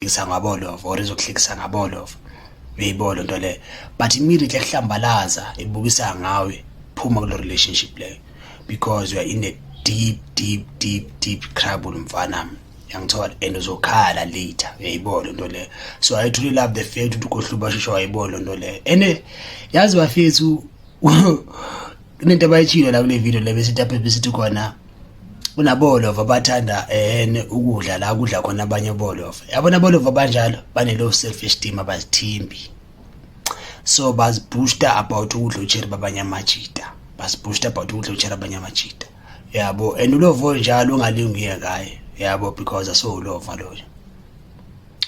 ngisa ngabolova or izokuhlekisa ngabolova uyayibona lento leyo but immediately kuhlambalaza ibukisa ngawe phuma kulo relationship leyo because you are in a deep deep deep deep trouble mfana yangithola and uzokhala later uyayibona lento leyo so i truly love the fact ukuthi ukohluba shosho wayibona lento leyo and yazi bafethu kunento abayitshilo la kule video le besithi aphe besithi khona kunabolova abathanda ehene ukudla la kudla khona abanye bolova yabona bolova banjalo bane-low self esteem abazithimbi so bazibooster about ukudla utsheri babanye amajita bazibooster about ukudla utsheri abanye amajita yabo and ulova onjalo ungalinguye ngaye yabo because asowulova loyo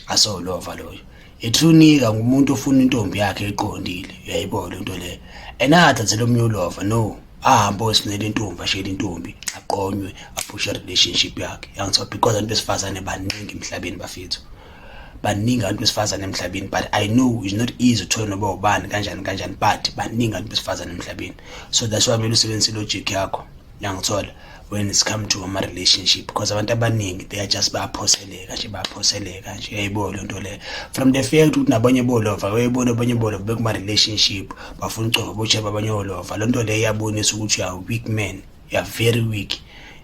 asowulova loyo Ithunika ngumuntu ofuna intombi yakhe eqondile uyayibo le nto le enathathela omunye ulova no ahambe osinele intombi ashele intombi aqonywe aphushe relationship yakhe yangithiwa because abantu besifazane baningi emhlabeni bafethu baningi abantu besifazane emhlabeni but i know it's not easy to noba ubani kanjani kanjani but baningi abantu besifazane emhlabeni so that's why kumele usebenzise logic yakho Nangithola when it's come to ama relationship because abantu abaningi they are just bayaphoseleka nje bayaphoseleka nje uyayibo lento le from the fact ukuthi nabanye bolova uyayibona abanye bolova bekuma relationship bafuna ucofa bocheba abanye olova lento le iyabonisa ukuthi uya weak man uya very weak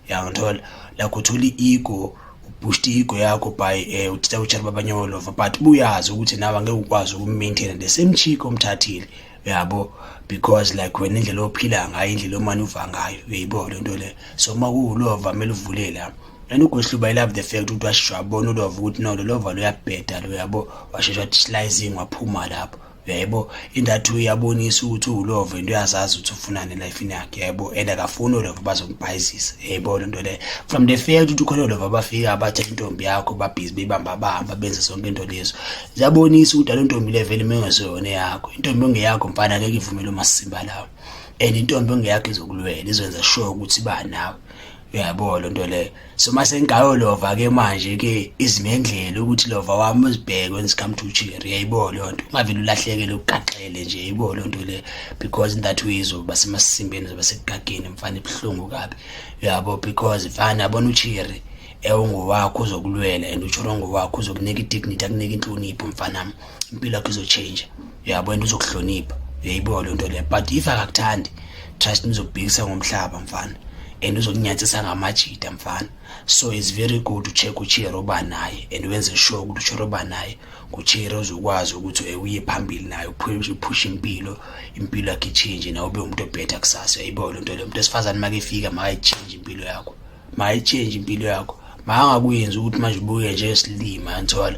yangithola la kuthola i-ego ubhushta i-ego yakho by um eh, uthitha utshela babanye olova but buyazi ukuthi nawe angeke ukwazi ukumaintaina the same chick omthathile yabo because like wena indlela ophila ngayo indlela omane uva ngayo uyayibo le nto le so uma kuwulova kumele uvule la and ugohluba ilove the fact ukuthi washeshe wabona ulova ukuthi no lolova luyabheda lo yabo washeshe wathi slicing waphuma lapho yebo indathi uyabonisa ukuthi uwulova into uyazazi ukuthi ufunani elifini yakhe yebo and akafuni olova bazombhayizisa yebo lento le from the fact ukuthi ukhona olova bafika abathe intombi yakho babhizi bebamba bahamba benze sonke into lezo ziyabonisa ukuthi alo ntombi le vele mengeseyona yakho intombi ongeyakho mfana ngeke ivumele umasimba lawo and intombi ongeyakho izokulwela izokwenza sure ukuthi ba nawe uyayibona lento leyo so mase ngayo lova ke manje ke izimendlela ukuthi lova wami uzibheke when come to cheer uyayibona lento ungavele ulahlekele ugaxele nje uyayibona lento le because in that way izoba semasimbeni zoba sekugageni mfana ibhlungu kabi uyabo because mfana yabona ucheer ewungowakho uzokulwela and usholo ngowakho uzokunika i-dignity akunika inhlonipho mfanam impilo yakho izotshintsha uyabo and uzokuhlonipha uyayibuka loo nto leyo but if akakuthandi trust me uzokubhekisa ngomhlaba mfana and uzokunyathisa ngamajita mfana so it's very good ucheck uchiyero oba naye and wenze sure ukuthi uchiyero oba naye kuchiyero uzokwazi ukuthi ewuye phambili naye uphushe impilo impilo yakhe itshintshe nawe ube umuntu obhetha kusasa yayibo loo nto leyo umuntu esifazane makefika makayitshintshe impilo yakho mayitshenje impilo yakho makangakuyenzi ukuthi manje ubuke njengesilima ngithola